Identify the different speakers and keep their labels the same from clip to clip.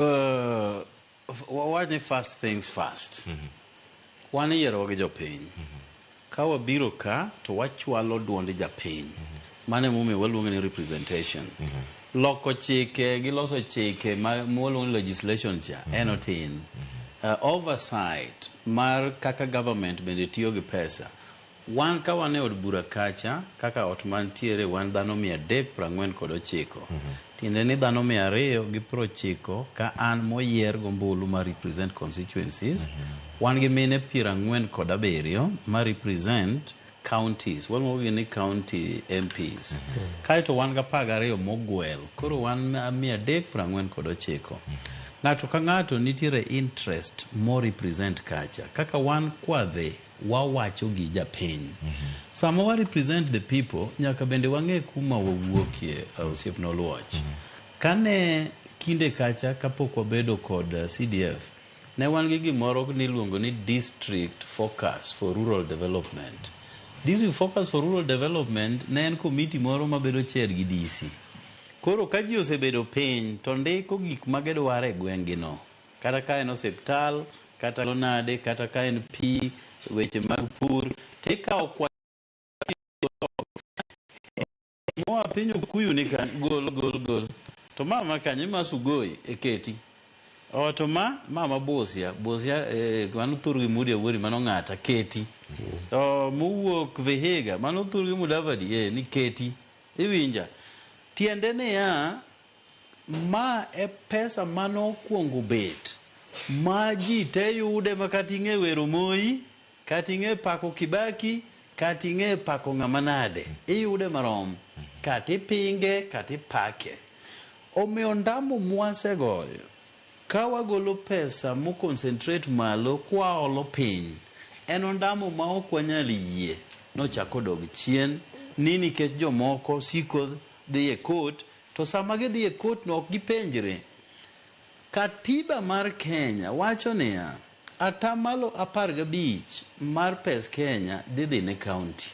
Speaker 1: Uh, wawach ni first things first mm -hmm. wan iyierowa gi jopiny mm -hmm. ka wabiro ka to wachwalo duond japiny mm -hmm. mano emomiyo waluonge ni representation mm -hmm. loko chike gi loso chike mwaluongo ni legislation cha mm -hmm. en otin mm -hmm. uh, oversight mar kaka government bende tiyo gi pesa Wan ka wan e od bura kacha, kaka ot mantiere wan dhano mia adek prang'wen kod ochiko. Tiende ni dhano mia ariyo gi prochiko ka an moyier gombulu ma represent constituencies. Wan gi mine piero ang'wen kod abiriyo ma represent counties. Waluongo gi ni county MPs. Kaeto wan gi apar gariyo mogwel. Koro wan mia adek prang'wen kod ochiko. Ng'ato ka ng'ato nitiere interest mo represent kacha. Kaka wan kwadhi. wawacho gi japiny. Sama wa represent the people nyaka bende wang'e kuma wawuokie osiepna Oluoch. Kane kinde kacha kapok wabedo kod CDF, ne wan gi gimoro niluongo ni District Focus for Rural Development. District Focus for Rural Development ne en committee moro mabedo chaired gi DC. Koro ka ji osebedo piny to ndiko gik magidwaro e gweng'gino. Kata ka en osiptal, kata lo nade, kata ka en pi, weche mag pur, tikawo kwa moa piny okuyu ni ka gol gol gol to mama kanye ma sugoi eketi o to ma mama busia busia eh, mano thur gi mudi awori mano ng'ata keti to mowuok vihiga mano thur gi mudavadi eh, ni keti iwinja tiende niya Ma e pesa mane okuongo bet ma ji te yude ma kata ing'e wero Moi, kata ing'e pako Kibaki, kata ing'e pako ng'ama nade, iyude marom. Kata ipinge, kata ipake. Omiyo ondamo mwasegoyo ka wagolo pesa mo concentrate malo kwaolo piny, en ondamo ma ok wanyal yie ni ochak odog chien ni nikech jomoko siko dhi e court, To sama gidhi e kotno ok gipenjre. Katiba mar Kenya wacho niya, ata malo apar gabich mar pes Kenya dhi dhi ne kaunti.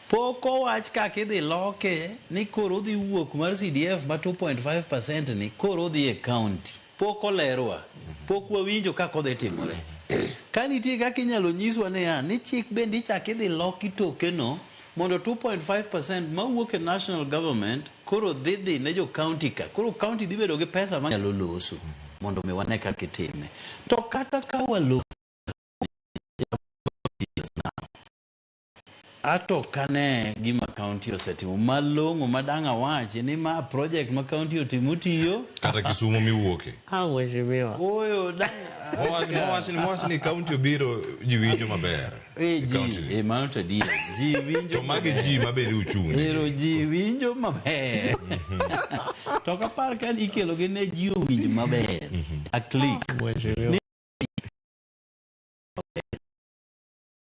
Speaker 1: Pok owach kaka idhi loke ni koro odhi wuok mar CDF ma two point five percent ni koro odhi e kaunti. Pok olerwa. Pok wawinjo kaka odhi timore. Ka nitie kaka inyalo nyiswa niya, ni chik bende ichak idhi loki tokeno mondo two point five percent mawuok e National Government koro dhi dhi ne jo County ka. Koro County dhi bedo gi pesa manyalo loso mondo mi wane kaka itime. To kata ka waloso pesa ni, Ato ok ane gima kaunti osetimo malong'o ma dang' awachi ni ma project ma kaunti otimo tiyo. Kata Kisumo
Speaker 2: miwuoke. Ah, mheshimiwa.
Speaker 3: Ooyo dang'
Speaker 1: Mowach mowach
Speaker 2: ni mowach ni kaunti obiro ji winjo maber. Eh, ji, Kaunti ni. eh,
Speaker 1: mano to adier. Ji winjo To magi maber. ji ma bende
Speaker 2: uchung' ne. Ero ji winjo
Speaker 1: maber. to ok apar ka ikelogi ne ji owinj maber. A click.
Speaker 3: Mheshimiwa.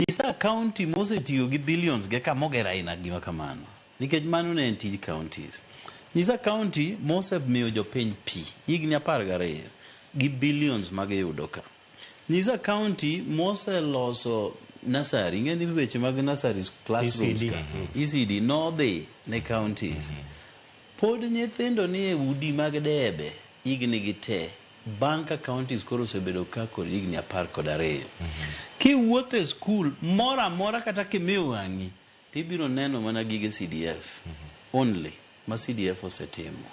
Speaker 1: Nyisa county mosetiyo gi billions ge kama oger aina gima kamano. Nikech mano ne en tij counties. Nyisa county mosemiyo jopiny pi higni apar gariyo gi billions ma giyudo ka. Nyisa county moseloso nursery, ing'e ni weche mag nursery classrooms ECD. ka. ECD nodhi ne counties. Pod nyithindo ni e udi mag debe higni gi te. Bang' ka counties koro osebedo ka kod higni apar kod ariyo, kiwuotho e skul moro amora kata kimiyo wang'i to ibiro neno mana gige CDF only ma CDF osetimo.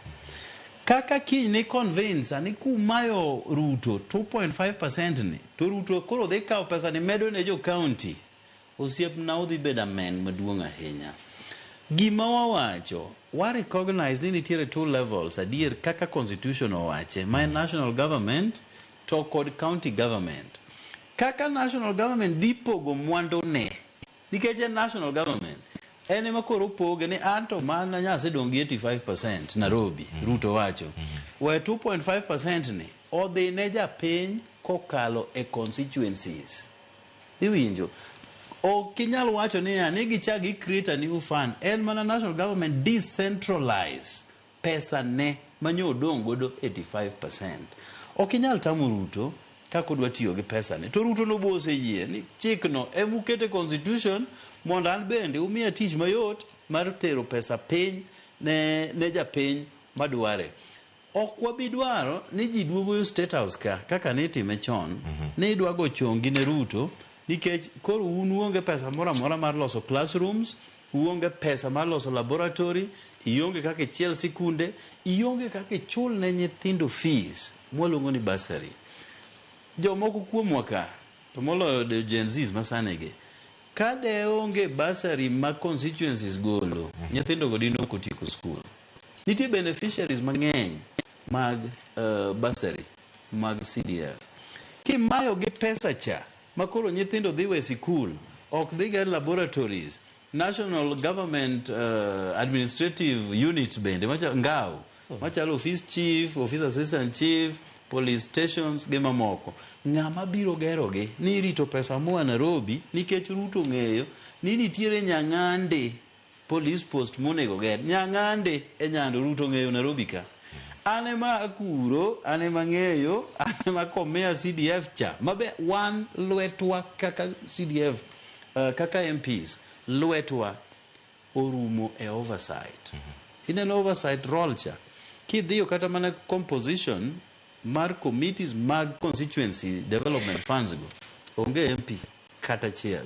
Speaker 1: Kaka kiny ni convince a ni kumayo Ruto two point five percent ni to Ruto koro dhi kawo pesani medo ne jo county Osiepna udhi bedo amen maduong ahinya. Gima wawacho, wa recognize ni nitiere two levels adier kaka constitution owache ma en national government to kod county government. Kaka national government dhi pogo mwandune nikech en national government en ema koro opoge ni anto mana nya asedong' gi 85% Narobi, Ruto wacho. We 2.5% ni odhi ne japiny kokalo e constituencies. Iwinjo? Ok inyal wacho niya ni gichak gi create a new fund. En mana national government decentralize pesa ne manyo odong' godo 85%. Ok inyal tamo Ruto kaka odwa tiyo gi pesa ne. To Ruto no be oseyie ni chik no ema uket e constitution mondo an bende umiya tich mayot mar tero pesa piny ne ne japiny madware. Ok wabi dwaro ni ji duogo yo State House ka kaka ne itime chon ni idwa go chongi ne Ruto nikech koro un uonge pesa moro amora mar loso classrooms, uonge pesa mar loso laboratory, ionge kaka ichiel sikunde, ionge kaka ichul ne nyithindo fees mwaluongo ni bursary. Jomoko kuomwa ka to moloyo de- Gen Zs masanigi ka de onge bursary ma constituencies golo nyithindogo dine ok otieko skul. Nitie beneficiaries mang'eny mag uh, bursary mag CDF. Kimayo gi pesa cha makoro nyithindo dhi we sikul ok dhi ga laboratories national government uh, administrative unit bende macha, ngao machalo office chief office assistant chief police stations gi mamoko ng'ama biro gerogi ni irito pesa moa nairobi nikech ruto ng'eyo ni nitiere nyang'ande Police post monego ger. Nyang'ande e nyando Ruto ng'eyo Nairobi ka. An ema akuro, an ema ang'eyo, an ema akomea CDF cha. Mabe wan lwetwa kaka CDF, uh, kaka MPs, lwetwa orumo e oversight. Ineno oversight role cha. Kidhiyo kata mana composition mar committees mag constituency development funds go. Onge MP kata achiel.